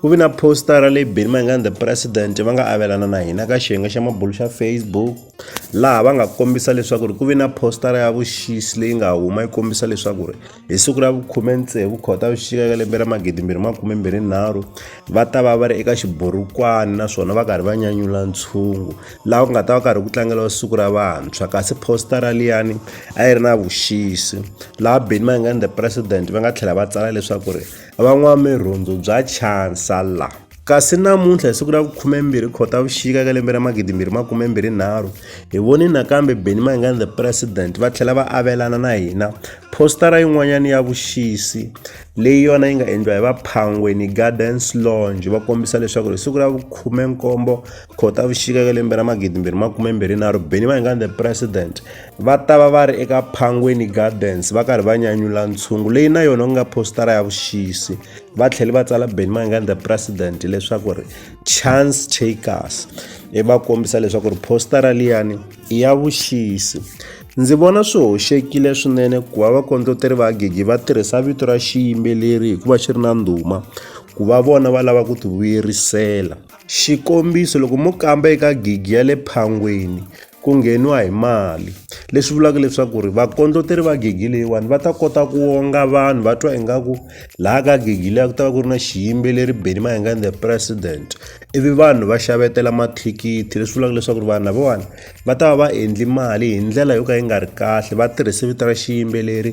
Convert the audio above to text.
Ku vi na positara leyi Benny Mayengani the president va nga avelana na hina ka xiyenge xa mabulo xa Facebook laha va nga kombisa leswaku ri ku vi na positara ya vuxisi leyi nga huma yi kombisa leswaku ri hi siku ra vukhume tsevu Khotavuxika ka lembe ra magidi mbirhi makume mbirhi nharhu va ta va va ri eka xiburukwani naswona va karhi va nyanyula ntshungu laha ku nga ta va karhi ku tlangeriwa siku ra vantshwa kasi positara liyani a yi ri na vuxisi laha Benny Mayengani the president va nga tlhela va tsala leswaku ri Van'wamirhundzu bya Chancellor. Kasi namuntlha, hi siku ra vu-12 Khotavuxika eka lembe ra 2023, hi vone nakambe Benni Mayengani the President va tlhela va avelana na hina phositara yin'wanyana ya vuxisi leyi yona yi nga endliwa hi va Phangweni Gardens Lounge va kombisa leswaku hi siku ra vu-17 Khotavuxika eka lembe ra 2023 Benni Mayengani the President va ta va va ri eka Phangweni Gardens va karhi va nyanyula ntshungu leyi na yona ku nga postara ya vuxisi va tlhele va tsala Benny Mayengani the president leswaku ri chance takers e va kombisa leswaku ri postara liyani i ya vuxisi ndzi vona swi hoxekile swinene ku va vakondloteri va gigi va tirhisa vito ra xiyimbeleri hikuva xi ri na ndhuma ku va vona va lava ku tivuyerisela xikombiso loko mo kamba eka gigi ya le phangweni Ku ngheniwa hi mali leswi vulaka leswaku ri vakondleteri va gigi leyiwani va ta kota ku wonga vanhu va twa ingaku laha ka gigi liya ku ta va ku ri na xiyimbeleri Benny Mayenga and the president ivi vanhu va xavetela mathikithi leswi vulaka leswaku ri vanhu lavawani va ta va va endli mali hi ndlela yo ka yi nga ri kahle va tirhise vito ra xiyimbeleri.